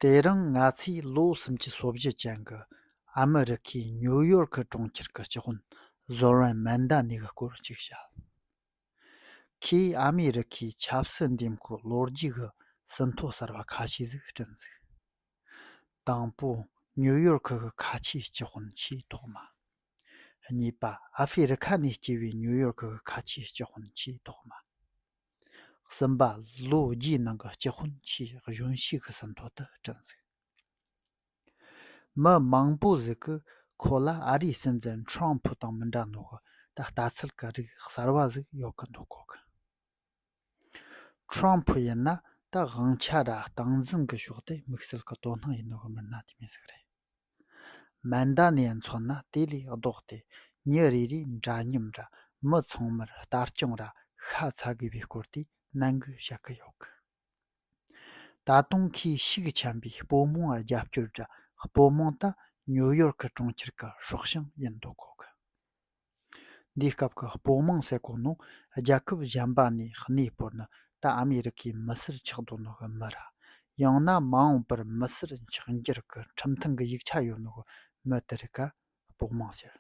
དེ་རིང་ང་ཚོས་ལོ་གསུམ་གྱི་སོ་བཞི་ཅན་གྱི་ཨ་མི་རི་ཁའི་ཉུའུ་ཡོར་ཁི་གྲོང་ཁྱེར་གྱི་སྤྱི་དཔོན་གཟོར་བན་མན་རྡ་ནི་གི་སྐོར་གཅིག་བཤད། ཁོས་ཨ་མི་རི་ཁའི་ཆབ་སྲིད་འདེམས་བསྐོའི་ལོ་རྒྱུས་ཀྱི་ཟིན་ཐོ་གསར་པ་ཁ་ཤས་ཟིག་བསྐྲུན་ཚེ། དང་པོ་ཉུའུ་ཡོར་ཁི་གི་ཁ་ཆེའི་སྤྱི་དཔོན་ཆེས་ཐོག་མ། གཉིས་པ་ཨ་ཧྥེ་རི་ཁ་ནས་སྐྱེས་པའི་ཉུའུ་ཡོར་ཁི་གི་ཁ་ཆེའི་སྤྱི་དཔོན་ཆེས་ཐོག་མ། གསུམ་པ་ལོ་རྒྱུས་ནང་གི་སྤྱི་དཔོན་ཆེས་གཞོན་ཤོས་ཀྱི་ཟིན་ཐོ་དེ་བྲིས་འདུག་མི་མང་པོ་ཟིག་གིས་ཁོ་ལ་ཨ་རིའི་སྲིད་འཛིན་ཁྲོམ་ཕུ་དང་མི་འདྲ་འདུག་ད་ལྟ་ཚུལ་གྱི་རིགས་གསར་བ་ཟིག་ཡོད་ཀྱི་འདུག་གོ་གི། ཁྲོམ་ཕུ་ཡིན་ན་ད་དབང་ཆ་ར་སྟངས་འཛིན་གྱི་ཕྱོགས་དེ་དམིགས་བསལ་གྱི་དོ་སྣང་ཡིན་ནོ་གི་མིན་ན་དེ་མི་ཟིག་རེད། མ་མདའ་ནས་མཚོན་ན་དེ་ལས་ལྡོག་སྟེ་ཉིན་རེ་རེའི་འདྲ་མཉམ་ར་མི་ཚང་མར་ལྟ་སྐྱོང་ར་ཤ་ཚ་དགོས་པའི་སྐོར་དེ་ནན་གོ་བྱ་གི་ཡོད་གི། ད་དུང་ཁོས་ཤུགས་ཆེན་པོས་སྤོ་མང་རྒྱབ་སྐྱོར་ར་སྤོ་མང་ད་ཉུའུ་ཡོར་ཁི་གྲོང་ཁྱེར་གི་སྲོག་ཤིང་ཡིན་འདུག་གོ་གི། འདིའི་སྐབས་ཀྱི་སྤོ་དམངས་ཟེར་གོང་ནང་རྒྱལ་ཁབ་གཞན་པ་ནས་གནས་སྤོར་ནི་ད་ཨ་མེ་རི་ཁའི་མི་སེར་ཆགས་འདོད་ནི་མི་ར་ཡང་ན་མ་འོངས་པར་མི་སེར་འཁྱགས་འགྱུར་གྱི་ཁྲིམས་ཐང་གི་ཡིག་ཆ་ཡོད་ནི་མི་དེ་རིགས་ཀ་སྤོ་དམངས་ཟེར།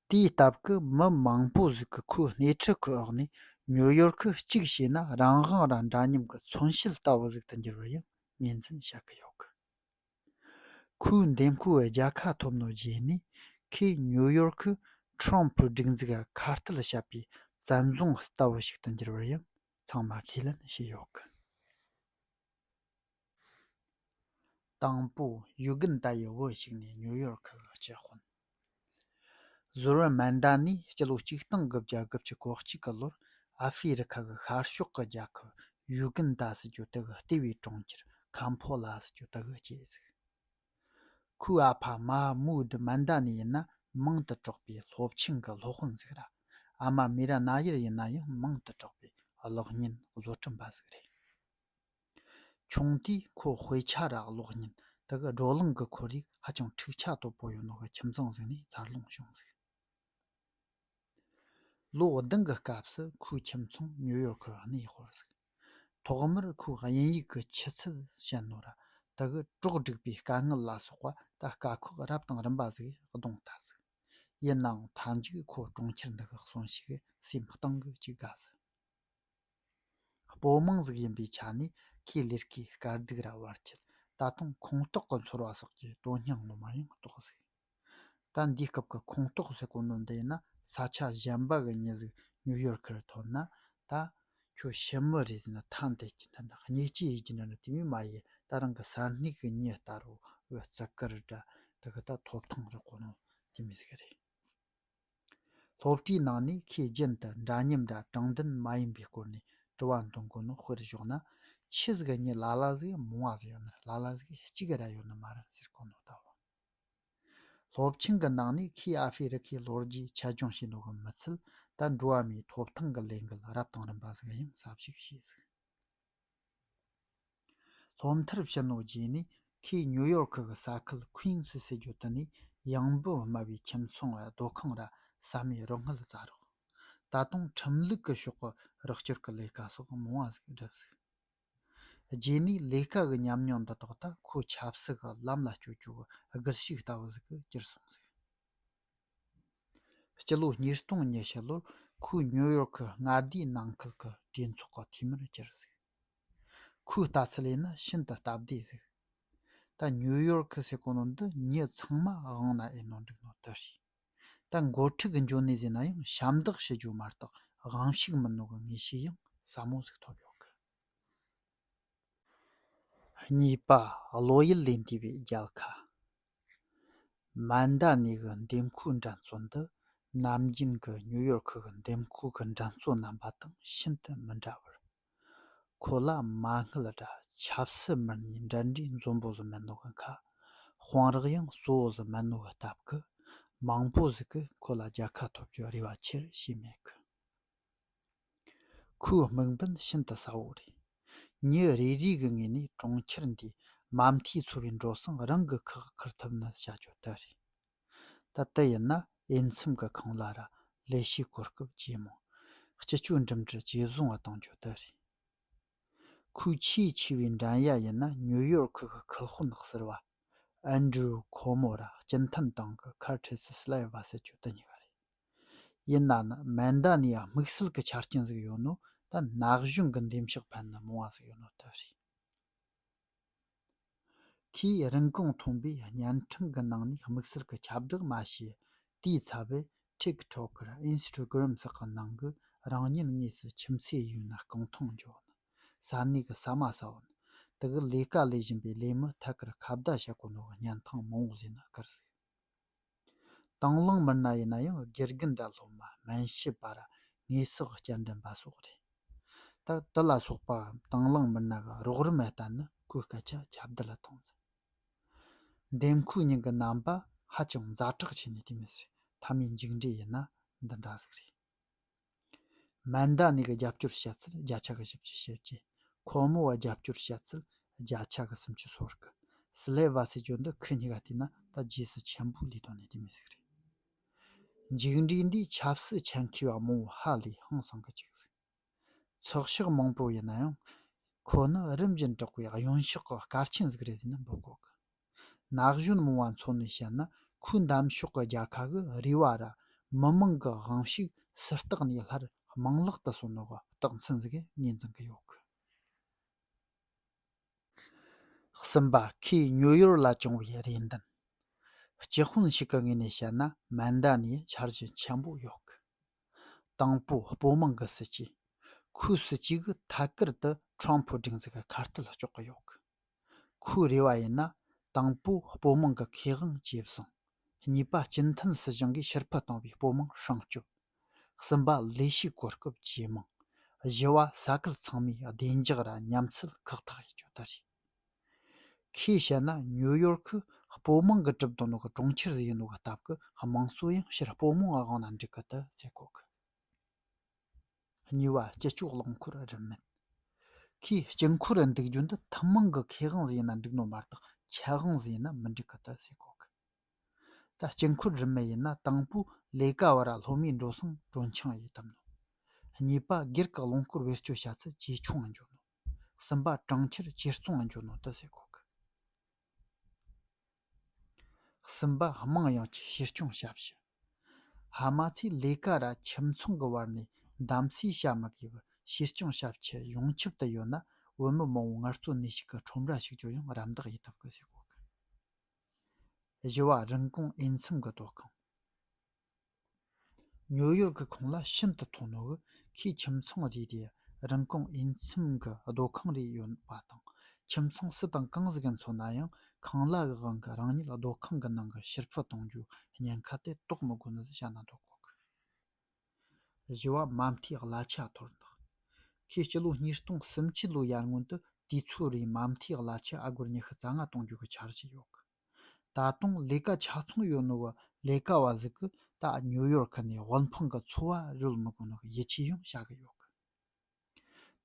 དེའི་སྟབས་ཀྱི་མི་མང་པོ་ཟིག་གི་ཁོའི་སྣེ་ཁྲིད་ཀྱི་འོག་ནས་ཉུ་ཡོར་ཁ་གཅིག་བྱས་ན་རང་དབང་རང་འདྲ་མཉམ་གྱི་མཚོན་བྱེད་ལྟ་བུ་ཟིག་ཏུ་འགྱུར་བར་ཡང་ངོས་འཛིན་བྱ་གི་ཡོད་གི། ཁོའི་འདེམས་ཁུལ་བའི་རྒྱལ་ཁ་ཐོབ་ནོ་རྗེས་ནས་ཁོས་ཉུའུ་ཡོར་ཁུ Trump པུའི་སྒྲིག་འཛུགས་ལ་ཁ་གཏད་བྱ་པའི་བཙན་རྫོང་ལྟ་བུ་ཞིག་ཏུ་འགྱུར་བར་ཡང་ཚང་མ་ཁས་ལེན་བྱས་ཡོད་སྐད། དང་པོ་ཡུ་གུན་ཏཱ་ཡི་བུ་ཞིག་ནས་ཉུའུ་ཡོར་ཁུ་གཅིག་དཔོན། ཟུར་བ་མན་དཱ་ནི་སྤྱི་ལོ་གཅིག་སྟོང་དགུ་བརྒྱ་དགུ་བཅུ་གོ་གཅིག་གི་ལོར་ཨ་ཧྥེ་རི་ཁ་གི་ཤར་ཕྱོགས་ཀྱི་རྒྱལ་ཁབ་ཡུའུ་གན་དཱ་སི་ཅུ་ཏི་གི་ལྟེ་བའི་གྲོང་ཁྱེར་ཁཱ་མཕོ་ལཱ་སི་ཅུ་ཏི་གི་སྐྱེ་གཟུགས། ཁུའུ་ཨ་བྷ་མཱ་མུའུ་སྡི་མན་དཱ་ནི་ཡིན་ན་མིང་དུ་གྲགས་པའི་སློབ་ཆེན་གྱི་སློབ་དཔོན་ཟིག་ར་ཨ་མ་མི་ར་ན་ཡེར་ཡིན་ན་ཡང་མིང་དུ་གྲགས་པའི་གློག་བརྙན་བཟོ་སྐྲུན་པ་ཟིག་རེད། ཆུང་དུས་ཁོ་དཔེ་ཆ་རག་ཀློག་ཉིན་དུ་བགྲོ་གླེང་གི་ཁོར་ཡུག་ཧ་ཅང་འཁྲུག་ཆ་དོད་པོ་ཡོད་འདུག་པའི་ཁྱིམ་ཚང་ཞིག་ནས་འཚར་ལོངས་བྱུང་ཟིན། ལོ་ཟླུམ་གྱི་སྐབས་སུ་ཁོའི་ཁྱིམ་ཚང་ནིའུ་ཡོར་ཁུ་གནས་སྤོར་ཟིན། ཐོག་མར་ཁོས་དབྱིན་ཡིག་གི་ཆུ་ཚད་ཞན་ནོར་དག་གིས་གྲོགས་བསྒྲིགས་པའི་དཀའ་ངལ་ལ་སོགས་པ་དང་དཀའ་ཁག་རབ་དང་རིམ་པ་ཞིག་གདོང་ལྟ་ཟིན། ཡིན་ནའང་མཐའ་མཇུག་ཁོས་གྲོང་ཁྱེར་འདི་གའི་གསོན་ཤུགས་སེམས་གཏིང་གི་གཅིག་དགའ་ཟིན། པོ་མང་གཟུགས་ཡིན་པའི་ཆ་ནས་ཁེ་ལས་ཀྱི་དཀའ་སྡུག་ར་བར་ཆད་ད་དུང་ཁོངས་གཏོགས་ཀྱི་ཚོར་བ་སོགས་ཀྱི་དོན་སྙིང་ངོ་མ་ཡང་རྟོགས་སྲིད། ད་འདིའི་སྐབས་ཀྱི་ཁོངས་གཏོགས་ཟེར་དགོངས་དོན་དེ་ནི་ས་ཆ་གཞན་པ་གི་ཉི་གཟུགས་ནིའུ་ཡོར་ཁར་ཐོན་ན་ད་ཁྱོད་ཕྱི་མི་རེད་ཟེར་ན་ཐ་འདི་སྐྱེ་ལྡན་པ་སྙིགས་སྐྱེ་ཡི་སྐྱེ་ལྡན་དེ་མིན་མ་ཡི་ད་རང་གི་ས་སྣིག་གི་ཉི་ལྟར་བུ་བརྩི་བཀུར་འདྲ་དག་ད་ཐོབ་ཐང་རག་གོ་ནོ་དེ་མི་ཟིག་རེད། སློབ་གྲྭའི་ནང་ནས་ཁོས་རྒྱུན་དུ་འདྲ་མཉམ་འདྲ་དྲང་བདེན་མ་ཡིན་པའི་སྐོར་ནས་དྲི་བ་འདོན་གོ་ནོ་དཔེར་བཞག་ན། ཁྱི་ཟིག་གཉིས་ལ་ལ་ཟིག་མོང་བ་ཟིག་ཡོད་ན་ལ་ལ་ཟིག་གཅིག་ར་ཡོད་ན་མ་ར་ཟེར་གོ་ནོ་ལྟ་བུ། སློབ་ཆེན་གྱི་ནང་ནས་ཁོས་ཨ་ཧྥེ་རི་ཁའི་ལོ་རྒྱུས་ཆ་སྦྱོང་བྱེད་འདོད་གི་མི་ཚུལ་ལྟར་འགྲོ་བ་མིའི་ཐོབ་ཐང་གི་ལས་འགུལ་རབ་དང་རིམ་པ་ཟིག་ཡང་ཟབ་ཞུགས་བྱས་ཟིག། སློབ་མཐར་ཕྱིན་ལོ་རྗེས་ནས་ཁོས་ཉུའུ་ཡོར་ཁུ་གི་ས་ཁུལ་ཁུའུ་ཡིང་སི་ཟེར་རྒྱུ་དེ་ནས་གཡང་འབོད་དམའ་བའི་ཁྱིམ་ཚང་བའི་སྡོད་ཁང་ར་ས་མའི་རུ་སྔགས་བཙའ་རོགས། ད་དུང་ཁྲིམས་ལུགས་ཀྱི་ཕྱོགས་ཀྱི་རོགས་སྐྱོར་གྱི་ལས་ཀ་སོགས་མང་བ་ཞིག་བསྒྲུབས། རྗེས་ནས་ལས་ཀ་གི་ཉམས་མྱོང་འདི་དག་དང་ཁོས་ཆབ་སྲིད་ཀྱི་ལམ་ལ་བསྐྱོད་རྒྱུའི་སྒུལ་ཤུགས་ལྟ་བུ་ཞིག་གིས་གྱུར་སོང། སྤྱི་ལོ་ཉིས་སྟོང་ཉི་ཤུ་ལོར་ཁོས་ཉིའུ་ཡོར་ཁི་མངའ་སྡེའི་ནང་ཁུལ་གྱི་གྲོས་ཚོགས་ཀྱི་འཐུས་མིར་གྱུར་ཁོའི་ལྟ་ཚུལ་ལས་ནི་ཤིན་ཏུ་སྟབས་བདེ་ཟིག་ད་ཉིའུ་ཡོར་ཁི་སེ་གོ་ནོ་འདི་མྱི་ཚང་མ་དབང་ན་ཨེ་ནོ་འགྲིག་ནོ་དེ་རེད་ད་འགོ་ཁྲིད་ཀྱི་འཇོན་ནུས་ཟེར་ན་ཡང་ཞབས་འདེགས་ཞུ་རྒྱུ་མ་གཏོགས་དབང་ཤུགས་མི་སྣོ་གི་ངེས་ཤེས་ཡང་ཟབ་མོ་ཟིག་ཐོབ་ཡོད་གི། གཉིས་པ་བློ་ཡུལ་ལས་འདས་པའི་རྒྱལ་ཁ། མ་མདའ་ནས་གི་འདེམས་ཁུག་འགྲན་རྩོད་འདི་ནམ་རྒྱུན་གི་ཉུ་ཡོར་ཁུག་གི་འདེམས་ཁུག་གི་འགྲན་རྩོད་རྣམ་པ་དང་ཤིན་ཏུ་མི་འདྲ་བར། ཁོ་ལ་མ་དངུལ་དྲ་ཆབ་སྲི་མར་ནས་འགྲན་འདྲའི་འཛོམས་པོ་ཟི་མེན་ནོ་གི་མཁའ་དཔང་རག་ཡང་གཙོ་བོ་ཟི་མེན་ནོ་གི་སྟབས་ཀི་མང་པོ་ཟིག་གི་ཁོ་ལ་རྒྱལ་ཁ་ཐོབ་རྒྱུ་རེ་བ་ཆེར་བྱས་མེད་གི། ཁོའི་དམིགས་འབེན་ཤིན་ཏུ་གསལ་བོ་རེད། ཉིན་རེ་རེའི་ངོས་ནས་གྲོང་ཁྱེར་འདིའི་མ་མཐའི་འཚོ་བའི་འགྲོ་སོང་རང་གིས་ཁག་ཁུར་ཐུབ་ན་བྱ་སྤྱོད་དེ་རེད། ད་ལྟ་ཡིན་ན་དབྱེ་མཚམས་ཀྱི་ཁང་གླ་ར་ལས་ཤས་གོ་སྐབས་ཇེ་མང། སྤྱི་སྤྱོད་འགྲིམ་འགྲུལ་ཇེ་བཟང་བ་གཏོང་རྒྱུ་དེ་རེད། ཁོའི་ཆེས་ཆེ་བའི་འགྲན་ཡ་ཡིན་ན་ཉུའུ་ཡོར་ཁུལ་གྱི་ཁུལ་དཔོན་ནག་སེར་བ། Andrew Cuomo། ར་སྤྱི་མཐུན་ཏང་གི་ཁར་ཁྲེ་སི་སི་ལ་ཡི་བ་སྲིད་ཅུ་དི་གཉིས་པ་རེད། ཡིན་ན་ནི་མེ་མདའ་ནས་དམིགས་བསལ་གྱི་ཆ་རྐྱེན་ཟིག་ཡོད་ནོ་ད་ན་གཞུང་གི་འདེམས་ཤོག་ཕན་ནི་མོང་བ་ཟིག་ཡོད་ནོ་ད་རེད། ཁོས་རིན་གོང་མཐོན་པོའི་བརྙན་འཕྲིན་གྱི་ནང་ནས་དམིགས་བསལ་གྱི་ཁྱབ་བསྒྲགས་མ་བྱས་དུས་ཚ་བའི་ཐིག་ཐོཀ Instagram སོགས་ཀྱི་ནང་གི་རང་ཉིད་དངོས་སུ་ཁྱིམ་མཚེས་ཡིན་ན་རྐང་ཐང་འཇོག་ནི་ས་གནས་ཀྱི་ས་མ་ས་འོག་ནི་དེ་གའི་ལས་ཀ་ལས་བཞིན་པའི་ལས་མི་ཐད་ཀར་ཁ་བརྡ་བྱེད་དགོས་ནོ་བརྙན་ཐང་མང་བོ་བཟོས་ན་དགར་ཟིག། དང་བླངས་མི་སྣ་ཡིན་ན་ཡང་དགེ་རྒན་འདྲ་སློབ་མ་སྨན་ཞབས་པར་དངོས་ཟོག་སྐྱེལ་འདྲེན་པ་སོགས་རེད་སྟབས་དེ་ལ་སོགས་པའམ་དང་བླངས་མི་སྣ་འགའ་རོགས་རམ་ལྟ་ན་ཁོའི་སྐད་ཆ་ཁྱབ་གདལ་གཏོང་ཟིན། འདེམས་ཁོའི་སྙིང་གི་རྣམ་པ་ཧ་ཅང་ཛ་དྲག་ཆེ་ནས་དེ་མི་སྲིད་མཐའ་མའི་མཇུག་འབྲས་ཡིན་ན་འདི་འདྲ་ཟིག་རེད། མ་མདའ་ནས་ཀྱི་རྒྱབ་སྐྱོར་བྱ་ཚུལ་བརྒྱ་ཆ་གི་བཞི་བཅུ་བྱེད་ཀྱི། ཁོ་མོ་བ་རྒྱབ་སྐྱོར་བྱ་ཚུལ་བརྒྱ་ཆ་གི་སུམ་ཅུ་སོར་གི། སི་ལེ་བ་སི་ཅོ་འདི་ཁི་གཉིས་ཀ་བལྟས་ན་ད་རྗེས་སུ་ཆེན་པོ་ལས་དོན་ནི་དེ་མི་ཟིག་རེད། མཇུག་འབྲས་འདིས་ཆབ་སྲིད་ཆ་མཁས་བ་མང་བོ་ཧ་ལས་ཧང་སངས་གི་ཅིག་ཟིག། ཚོགས་ཕྱོགས་མང་པོ་ཡིན་ན་ཡང་ཁོ་ནི་རིམ་བཞིན་དྲག་པའི་གཡོན་ཕྱོགས་ཀྱི་སྐར་ཆེན་ཟིག་རེད་ཟེར་ན་འབོད་གོ་དཀའ། ན་གཞོན་མང་བ་མཚོན་ནས་བཤད་ན་ཁོའི་འདམ་ཕྱོགས་ཀྱི་རྒྱལ་ཁ་གི་རུས་བ་ར་མི་མང་གི་དབང་ཤུགས་སུ་བརྟགས་ནས་སླར་རྨང་གླག་ཏུ་སོན་ནོ་གི་རྟགས་མཚན་ཟིག་ངས་འཛིན་གི་ཡོད་གི། གསུམ་པ་ཁོས་ཉོ་ཡོར་ལ་བྱུང་བའི་རེ་འདུན། སྤྱི་དཔོན་ཞིག་གི་ངོས་ནས་བཤད་ན་མན་འདའ་ནས་འཆར་གཞི་ཆེན་པོ་ཡོད་གི། དང་པོ་སྤོ་མང་གི་སྲིད་ཇུས་ཁོའི་སྲིད་ཇུས་ཀྱི་ཐད་ཀར་དུ་ཁྲོམ་ཕུ་སྒྲིག་འཛུགས་ཀྱི་ཁ་གཏད་གཅོག་གི་ཡོད་གི། ཁོའི་རེ་བ་ཡིན་ན་དང་པོ་སྤོ་མང་གི་ཁེ་དབང་ཇེ་བཟང། གཉིས་པ་སྤྱི་མཐུན་སྲིད་གཞུང་གིས་ཕྱིར་ཕུད་བཏང་བའི་སྤོ་མང་སྲུང་སྐྱོབ། གསུམ་པ་ལས་ཤུགས་གོ་སྐབས་ཇེ་མང། བཞི་བ་ས་ཁུལ་ཚང་མའི་བདེ་འཇགས་ར་མཉམ་ཚུལ་ཁག་ཐག་གཅོད་རྒྱུ་རེད། ཁོས་བཤད་ན་ཉུ་ཡོར་ཁི་སྤོ་དམངས་ཀྱི་གྲུབ་དོན་ནི་གྲོང་ཁྱེར་ཟིག་ཡིན་ལུགས་ཀྱི་སྟབས་ཀྱིས་དམངས་གཙོ་ཡང་ཕྱིར་སྤོ་དམངས་ཀྱི་དབང་ལ་འགྲིག་གི་དུ་བྱེད་དགོས་ཀྱི། གཉིས་པ་སྤྱི་ཆོག་རླངས་འཁོར་རིན་མེད་ཁོས་སྤྱི་འཁོར་རིན་འདུག་རྒྱུ་འདི་ཐུན་མོང་གི་ཁེ་དབང་ཟིག་ཡིན་ན་འགྲིག་ནོ་མ་གཏོགས་ཁྱད་དབང་ཟིག་ཡིན་ན་མི་འགྲིག་གི་དུ་བྱེད་དགོས་ཀྱི། ད་སྤྱི་འཁོར་རིན་མེད་ཡིན་ན་དང་པོ་ལས་ཀ་བ་ར་ལྷོ་མའི་འགྲོ་སོང་གྲོན་ཆང་ཡོད་དམ་ནོ། གཉིས་པ་སྒེར་གྱི་རླངས་འཁོར་བེད་སྤྱོད་བྱ་ཚུལ་ཇེ་ཆུང་ངང་འགྱུར་ནོ། སུམ་པ་གྲངས་ཁྱེར་བཅས་གཙང་བ་འཇོག་ནོ་དུ་ཟེར་གོ་གི། གསུམ་པ་དམངས་ཡོངས་ཀྱི་བཤེར་སྐྱོང་ཞབས་ཞུ། ཧ་མ་ཚའི་ལས་ཀ་ར་ཁྱིམ་ཚང་གི་བར་ནས་གདམ་གསེས་བྱ་མི་དགོས་པར་བཤེར་སྐྱོང་ཞབས་ཁྱི་ཡོངས་ཁྱབ་ཏུ་ཡོད་ན་བོད་མི་མང་བོ་ངལ་རྩོལ་ནུས་ཤུགས་ཀྱི་ཁྲོམ་ར་ཞིག་བསྐྱོར་ཡང་རམ་འདེགས་ཡི་ཐུབ་དགོས་ཟེར་གོ་གི། བཞི་བ་རིན་གོང་དབྱེ་མཚམས་ཀྱི་དོ་ཁང། ཉོ་ཡོར་གྱི་གོང་ལ་ཤིན་ཏུ་མཐོ་ནོར་གྱི་ཁྱིམ་ཚང་རེ་རེ་རིན་གོང་དབྱིན་ཚིམ་གྱི་སྡོད་ཁང་རེ་ཡོད་པ་དང་ཁྱིམ་ཚང་སུ་དང་གང་ཟིག་གི་འཚོ་ན་ཡང་ཁང་གླ་གི་དབང་གིས་རང་ཉིད་སྡོད་ཁང་གི་ནང་གི་ཕྱིར་ཕུད་གཏོང་རྒྱུའི་ཉེན་ཁ་དེ་དོགས་མི་དགོས་ནས་བྱ་ན་འདོད་ཁོ་ཐག་བཞི་བ་མ་མཐའི་གླ་ཆ་དོར་བདག་ཁོས་སྤྱི་ལོ་ཉིས་སྟོང་སུམ་ཅུ་ལོའི་ཡར་སྔོན་དུ་དུས་ཚོད་རེའི་མ་མཐའི་གླ་ཆ་ཨ་སྒོར་ཉི་ཤུ་རྩ་ལྔ་གཏོང་རྒྱུའི་འཆར་གཞི་ཡོད་ད་དུང་ལས་ཀ་ཆ་ཚང་ཡོད་ནོ་བ་ལས་ཀ་བ་ཟིག་གི་ད་ཉུ་ཡོར་ཁ་ནས་དབུལ་ཕོངས་ཀི་འཚོ་བ་རོལ་མི་དགོས་ནོ་གི་ཡིད་ཆེས་ཡང་བྱ་གི་ཡོད་གི།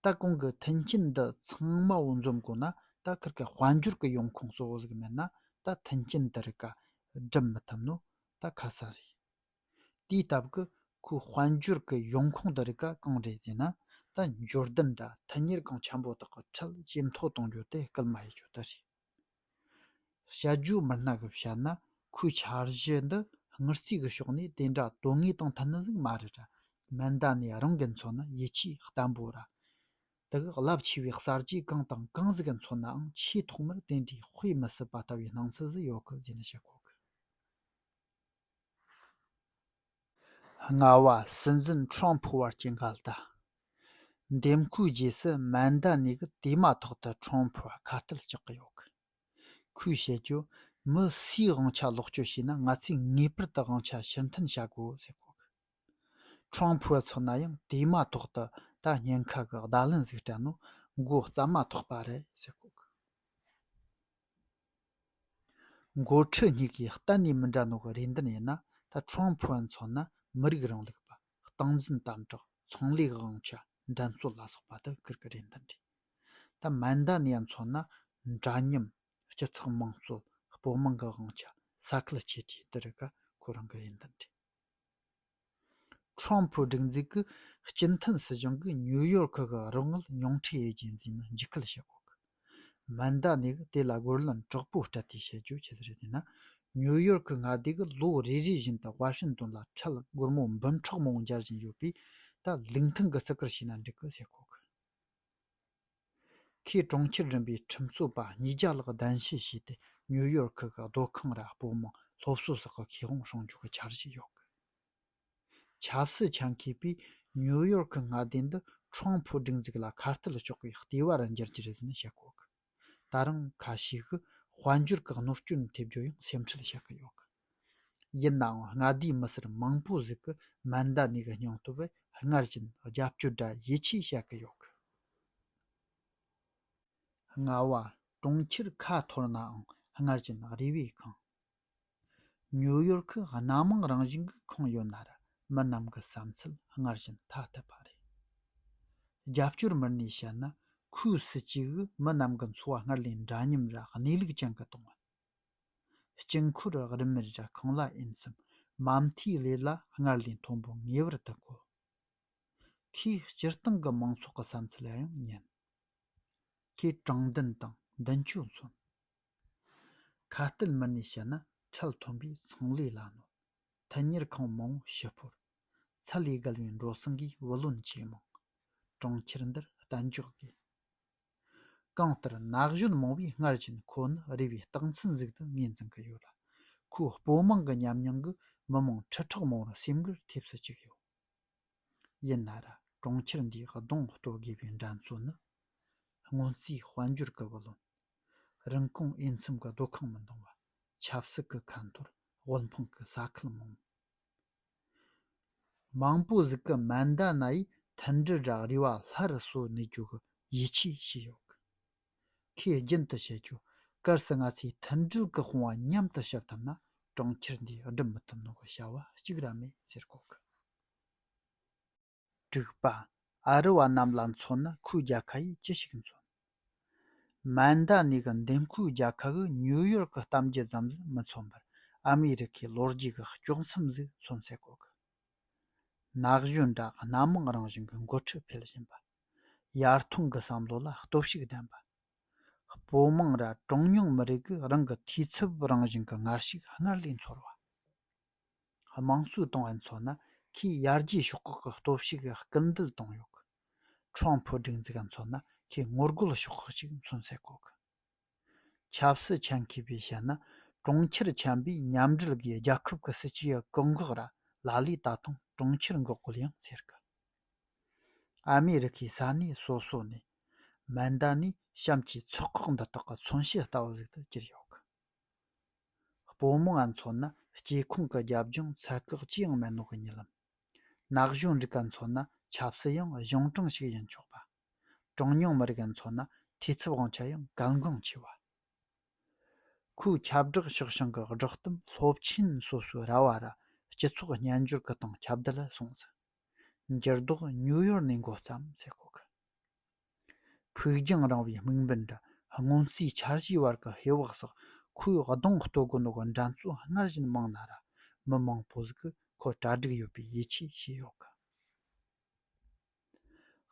ད་གོང་གི་མཐུན་རྐྱེན་འདི་ཚང་མ་བོ་འཛོམས་དགོས་ན་ད་ཁིར་ཁ་དཔལ་འབྱོར་གི་ཡོང་ཁུངས་གཙོ་བོ་ཟིག་མེད་ན་ད་མཐུན་རྐྱེན་འདི་རི་ཀ་སྒྲིམ་མི་ཐུབ་ནོ་ད་ཁ་གསལ་རེད། དེའི་སྟབས་ཀི་ཁོའི་དཔལ་འབྱོར་གི་ཡོང་ཁུངས་འདི་རི་ཀ་གང་རེད་ཟེར་ན་ད་འབྱོར་ལྡན་འདྲ་མཐུན་གཉེར་ཁང་ཆེན་པོ་དག་གི་ཁྲལ་ཇེ་མཐོ་གཏོང་རྒྱུ་དེ་སྐུལ་མ་ཡི་ཇོ་དར་རེད། དཔྱད་བརྗོད་མི་སྣ་གི་བཤད་ན་ཁོའི་འཆར་གཞི་འདི་དངུལ་རྩའི་གི་ཕྱོགས་ནས་དེ་འདྲ་དོན་དངོས་དང་མཐུན་ལུགས་མ་རེད་ར་མི་འདི་ནས་རང་གི་མཚོན་ན་ཡིད་ཆེས་བརྟན་པོ་ར་འདུག་རླབས་ཆེ་བའི་གསར་བརྗེ་གང་དང་གང་ཟིག་གི་མཚོན་ནའང་ཆེས་ཐོག་མར་དེ་འདྲའི་དཔེ་མི་སྲིད་པ་ལྟ་བུའི་སྣང་ཚུལ་ཟིག་ཡོད་གི་རྒྱུ་ནི་ཤེས་དགོས་གི། རྔ་བ་སྲིད་འཛིན་ཁྲོམ་ཕུ་བར་གྱི་འགལ་ཟླ། འདེམས་བསྐོའི་རྗེས་སུ་མན་དཱ་ནི་གི་དེ་མ་ཐག་ཏུ་ཁྲོམ་ཕུ་བ་ཁ་གཏད་བཅག་གི་ཡོད། ཁོས་བཤད་རྒྱུར། མི་སུས་དབང་ཆ་ལོག་སྤྱོད་བྱས་ན་ང་ཚོས་ངེས་པར་དུ་དབང་ཆ་ཕྱིར་འཐེན་བྱ་དགོས་ཟེར་གོ། ཁྲོམ་ཕུ་བ་ཚོ་ན་ཡང་དེ་མ་ཐག་ཏུ་ད་ཉེན་ཁ་གི་བརྡ་ལན་ཟིག་སྤྲད་ན་མགོ་རྩ་མ་ཐོག་པ་རེད་ཟེར་གོ། མགོ་ཁྲིད་གཉིས་ཀྱི་གཏན་ནས་མི་འདྲ་མོག་རེ་འདུན་ཡིན་ན་ད་ཁྲོམ་ཕུ་བ་མཚོན་ན་མི་རིགས་རིང་ལུགས་པ་སྟངས་འཛིན་དམ་དྲག་ཚོང་ལས་དབང་ཆ་འགྲན་རྩོད་ལ་སོགས་པ་དུ་ཀིར་གི་རེ་འདུན་རེད་ད་མན་ད་ནས་མཚོན་ན་འདྲ་མཉམ་སྤྱི་ཚགས་དམངས་གཙོ་སྤོ་དམངས་ཀྱི་དབང་ཆ་ས་ཁུལ་གཅིག་གྱི་དུ་རུ་ཀ་ཁོ་རང་གི་རེ་འདུན་རེད། ཁྲོམ་ཕུའུ་སྒྲིག་འཛུགས་ཀྱི་སྤྱི་མཐུན་སྲིད་གཞུང་གིས་ཉུའུ་ཡོར་ཁུལ་གྱི་རོགས་དངུལ་ཉུང་འཕྲི་ཡོད་རྐྱེན་འཛིན་ན་འཇིགས་སྐུལ་བྱེད་དགོས། མི་འདའ་ནས་གིས་དེ་ལ་རྒོལ་ལན་དྲག་པོ་སྤྲད་དེ་བྱེད་རྒྱུ་ཇི་ལྟར་ཡིན་ན། ཉུའུ་ཡོར་ཁུལ་སྔར་དུས་ཀྱི་ལོ་རེ་རེ་བཞིན་དུ་ཝ་ཤིན་ཏོན་ལ་འཕྲལ་སྒོར་མོ་འབུམ་ཕྲག་མང་སྦྱར་བཞིན་ཡོད་པས་ད་ལུགས་མཐུན་གྱི་བརྩི་བཀུར་བྱས་ན་འགྲིག་གི་བྱེད་དགོས། ཁོས་གྲོང་ཁྱེར་རིམ་པའི་ཁྲིམས་རྩོད་པ་ཉིས་བརྒྱ་ལྷག་གདན་ཞུ་བྱས་ཏེ་ཉུའུ་ཡོར་ཁི་གི་སྡོད་ཁང་ར་སྤོ་དམངས་སློབ་གསོ་སོགས་ཀྱི་ཁེ་དབང་སྲུང་སྐྱོབ་ཀྱི་འཆར་གཞི་ཡོད། ཆབ་སྲིད་ཆ་མཁས་པས་ཉུའུ་ཡོར་ཁི་མངའ་སྡེ་འདི་ཁྲོམ་ཕུའུ་སྒྲིག་འཛུགས་ལ་ཁ་གཏད་གཅོག་པའི་ལྟེ་བ་རུ་འགྱུར་རྒྱུ་རེད་ཟེར་ནས་བཤད་ཀྱི་ཡོད། ད་རུང་ཁ་ཤས་ཤིག་གིས་དཔལ་འབྱོར་གྱི་གནོད་སྐྱོན་ཐེབས་རྒྱུར་ཡང་སེམས་ཁྲལ་བྱེད་ཀྱི་ཡོད། ཡིན་ནའང་མངའ་སྡེའི་མི་སེར་མང་པོ་ཟིག་གི་མན་ད་ནེ་གི་སྙིང་སྟོབས་སྔར་བཞིན་རྒྱབ་སྐྱོར་འདྲ་ཡིད་ཆེས་བྱ་གི་ཡོད། རྔ་བ་གྲོང་ཁྱེར་ཁ་འཐོར་ནའང་སྔར་བཞིན་རེ་བའི་ཁང། ཉུའུ་ཡོར་ཁི་སྣ་མང་རང་བཞིན་གྱི་ཁང་ཡོད་ནར་མི་རྣམས་ཀྱི་བསམ་ཚུལ་སྔར་བཞིན་ཐ་དད་པ་རེད། རྒྱབ་སྐྱོར་མི་སྣས་བཤད་ན་ཁོའི་སྲིད་ཇུས་ཀྱིས་མི་རྣམས་ཀྱི་འཚོ་བ་སྔར་ལས་འདྲ་མཉམ་ར་གནས་ལུགས་ཅན་གྱི་གཏོང་བ། དཀྱིལ་འཁོར་རིམ་མེར་བཞག་གང་ལ་ཡིན་གསུམ་མ་མཐའི་ལས་ལ་སྔར་ལས་མཐོན་པོ་ངེས་པར་དུ་དགོས། ཁོས་སྤྱིར་བཏང་གི་མང་ཚོགས་ཀྱི་བསམ་ཚུལ་ཡང་ཉན། ཁོས་དྲང་བདེན་དང་མདུན་སྐྱོད་མཚོན། ཁ་གཏད་མི་སྣས་བྱས་ན་ཁྲལ་མཐོན་པོས་ཚོང་ལས་ལ་གནོད། མཐུན་གཉེར་ཁང་མང་བོ་ཕྱི་སྤོར། ཚད་ལས་བརྒལ་བའི་འགྲོ་སོང་གིས་བུ་ལོན་ཇེ་མང། གྲོང་ཁྱེར་འདིར་གཏན་འཇགས་དགོས། གང་ལྟར་ན་གཞོན་མང་བས་སྔར་བཞིན་ཁོ་ནི་རེ་བའི་རྟགས་མཚན་གཟུགས་དུ་ངོས་འཛིན་གྱི་ཡོད་ལ་ཁོའི་སྤོ་དམངས་ཀྱི་ཉམས་མྱོང་གིས་མི་མང་ཁྲི་ཕྲག་མང་བོར་སེམས་འགུལ་ཐེབས་སུ་བཅུག་ཡོད། ཡིན་ན་ར་གྲོང་ཁྱེར་འདིའི་གདོང་གཏོད་དགོས་པའི་འགྲན་རྩོད་ནི་སྔོན་རྩིས་དཔལ་འབྱོར་གྱི་བུ་ལོན། རིན་གོང་དབྱེ་མཚམས་ཀྱི་སྡོད་ཁང་མི་འདང་བ། ཆབ་སྲིད་ཀྱི་ཁ་འཐོར་དབུལ་ཕོངས་ཀྱི་ས་ཁུལ་མང། མང་པོ་གཟིགས་ཀྱི་མ་འདའ་ན་ཡི་མཐུན་དྲིལ་བསྒྲགས་རེ་བ་ལྷར་གསོལ་ནས་རྒྱུག་གི་ཡིད་ཆེས་བྱས་ཡོད། ཁོས་རྒྱུན་དུ་བཤད་རྒྱུ། གལ་སྲིད་ང་ཚོས་མཐུན་སྒྲིལ་གྱི་དཔུང་བ་མཉམ་དུ་གཤིབ་ཐུབ་ན་གྲོང་ཁྱེར་འདི་སྒྲུབ་མི་ཐུབ་ནོ་གི་བྱ་བ་གཅིག་ར་མེད་ཟེར་གོ་གི། དྲུག་པ། ཨ་རི་བ་རྣམས་ལ་མཚོན་ན་ཁོའི་རྒྱལ་ཁ་ཡིས་ཅི་ཞིག་མཚོན། མཱན་དཱ་ནི་གི་འདེམས་ཁོའི་རྒྱལ་ཁ་གི་ཉུའུ་ཡོར་གི་གཏམ་རྒྱུད་ཙམ་ཟིག་མི་མཚོན་པར་ཨ་མི་རི་ཁའི་ལོ་རྒྱུས་ཀྱི་དཀྱོགས་མཚམས་ཟིག་མཚོན་སའི་སྐོར་གི་ན་གཞོན་འདྲ་སྣ་མང་རང་བཞིན་གྱི་འགོ་ཁྲིད་འཕེལ་བཞིན་པ། ཡར་ཐོན་གྱི་བསམ་བློ་ལ་སྟོབས་ཤུགས་ལྡན་པ། སྤོ་མང་ར་གྲངས་ཉུང་མི་རིགས་ཀྱི་རང་གི་འཐུས་ཚབ་རང་བཞིན་གྱི་ངར་ཤུགས་སྔར་ལས་མཚོར་བ། དམངས་གཙོའི་ཏང་ཨུའི་ཚོགས་ནི་ཁོས་ཡར་རྒྱས་ཕྱོགས་ཁག་གི་སྟོབས་ཤུགས་ཀྱི་སྐུལ་འདེད་བཏང་ཡོད། ཁྲོང་ཕུ་སྒྲིག་འཛུགས་ཨུའི་ཚོགས་ནི་ཁོས་ངོ་རྒོལ་ཕྱོགས་ཁག་ཅིག་མཚོན་ཚད་བཀོད། ཆབ་སྲིད་ཆ་མཁས་པའི་ཞལ་ནི་གྲོང་ཁྱེར་ཆེན་པོའི་མཉམ་འབྲེལ་གྱི་རྒྱལ་ཁབ་ཀྱི་སྲིད་ཇུས་བཀག་འགོག་ར་ལ་ལས་ད་དུང་གྲོང་ཁྱེར་འགོག་རྒོལ་ཡང་ཟེར་གི། ཨ་མེ་རི་ཁའི་ས་གནས་སོ་སོ་ནས་མན་དཱ་ནའི་གཤམ་གྱི་ཚོགས་ཁག་འདི་དག་གི་མཚོན་བྱེད་ལྟ་བུ་ཟིག་ཏུ་གྱུར་ཡོད། སྤོ་རྨོ་བ་མཚོ་ནི་སྐྱེ་ཁུངས་ཀྱི་རྒྱབ་ལྗོངས་ཚད་བཀག་ཅི་ཡང་མེད་ནོ་གི་ཉེ་ལམ། ན་གཞོན་རིགས་པ་མཚོ་ནི་ཆབ་སྲིད་ཡང་གཞུང་དྲང་ཞིག་ཡིན་ཆོག་པ། གྲངས་ཉུང་མི་རིགས་མཚོ་ནི་འཐུས་ཚབ་དབང་ཆ་ཡང་གལ་འགངས་ཆེ་བ། ཁོའི་ཁྱབ་བསྒྲགས་ཕྱོགས་བྱང་གི་བསྒྲགས་གཏམ་སློབ་ཆེན་སོ་སོའི་ར་བ་རུ་སྤྱི་ཚོགས་སྨྱན་སྦྱོར་གྱི་སྟེང་ཁྱབ་བརྡལ་སོང་ཟིན། འགྱུར་ལྡོག་ནིའུ་ཡོར་ནས་མགོ་བརྩམས་ཟེར་ཁོ་གི། ཕུགས་རྒྱང་རིང་བའི་དམིགས་འབེན་དང་སྔོན་རྩིས་འཆར་གཞིའི་བར་གྱི་ཧེ་བག་སོགས་ཁོའི་གདོང་སྟོད་དགུ་ནོར་གྱི་འགྲན་རྩོད་སྔར་བཞིན་མང་ན་ར་མི་མང་པོ་ཟིག་གིས་ཁོ་གྲ་སྒྲིག་ཡོད་པའི་ཡིད་ཆེས་བྱས་ཡོད་ཀི།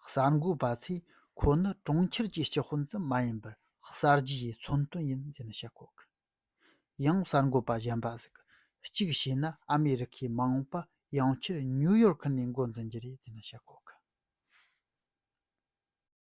གསར་འགོད་པ་ཚོས་ཁོ་ནི་གྲོང་ཁྱེར་གྱི་སྤྱི་དཔོན་ཙམ་མ་ཡིན་པར་གསར་བརྗེའི་མཚོན་དོན་ཡིན་ཞེས་བཤད་ཁོ་གི། ཡང་གསར་འགོད་པ་གཞན་པ་ཞིག་གིས་བྱས་ན་ཨ་མེ་རི་ཁའི་མ་འོངས་པ་ཡང་ཆེར་ཉུའུ་ཡོར་ཁུལ་ནས་འགོ་འཛིན་རྒྱུ་རེད་ཅེས་ཤོད་ཀྱི་ཡོད།